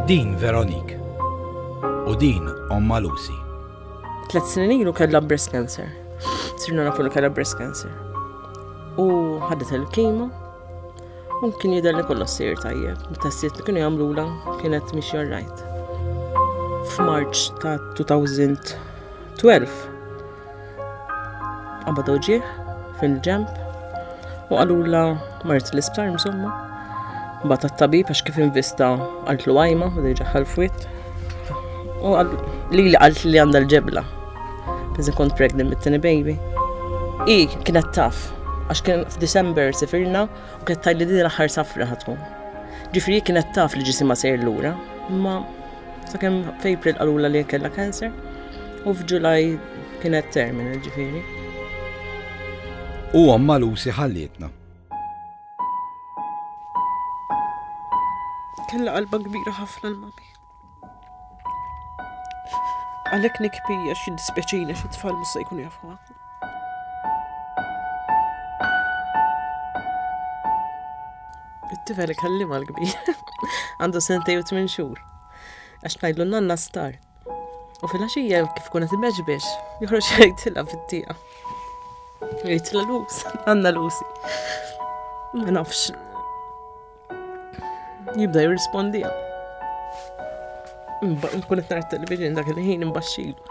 Din Veronique. U din omma Lucy. Tlet snin ilu kellha breast cancer. Sirna nafu li kellha breast cancer. U ħadet il-kimo. U kien jidher li kollox sir tajjeb. Mit-testijiet li kienu jagħmlula kienet mhix jarrajt. F'Marċ ta' 2012 Qabad uġieħ fil-ġemp u qalula mart l-isptar msomma. Bat tabib għax kif invista għaltlu għajma u diġa ħalfwit. U li li għalt li għanda l-ġebla. Bizi kont pregnant bit-tini baby. I kienet taf għax kien f'December sifirna u kienet tajli din l-aħħar safra ħatkun. Ġifri kienet taf li ġisima sejr lura, ma Sakemm f'April qalula li kellha cancer u f'Ġulaj kienet terminal ġifieri. U omma Lucy ħallietna. Kella qalba kbira ħafna l-mami. Għalhekk nikpija xi dispeċina xi tfal musa jkun jafuha. It-tifel ikellimha l-kbir. Għandu sentej u tmien xhur. Għax tgħidlu nanna star. U fil-għaxija kif kuna timeġ biex, joħroġ jgħidilha fit-tieqa. Jgħidilha lus, għandna lusi. Ma nafx. Jibda jirrispondija. Nkun qed nara television dak il-ħin imbaxxilu.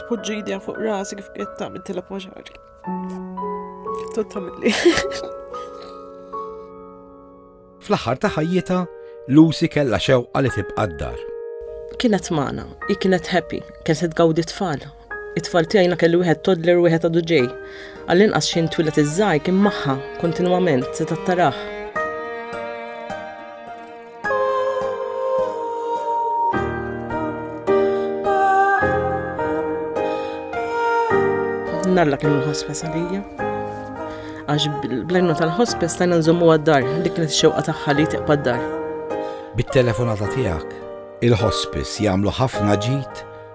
Tpoġġi idea fuq rasi kif qed tagħmel tilab ma' xagħri. Tot tagħmilli. Fl-aħħar ta' ħajjita, Lucy kellha xewqa li tibqa' d-dar. Kienet magħna, hi kienet happy, kien se tgawdi tfal. It-tfal tiegħi kellu wieħed toddler u wieħed għadu ġej. Għall-inqas xi twilet iż-żgħir kien magħha kontinwament se tattaraħ. Nalla kienu l-ħospa salija għax bl-għajnu tal-ħospi stajna nżommu għad-dar, dik li xewqa tagħha li tiqpa d-dar. Bit-telefonata tiegħek, il-ħospis jagħmlu ħafna ġid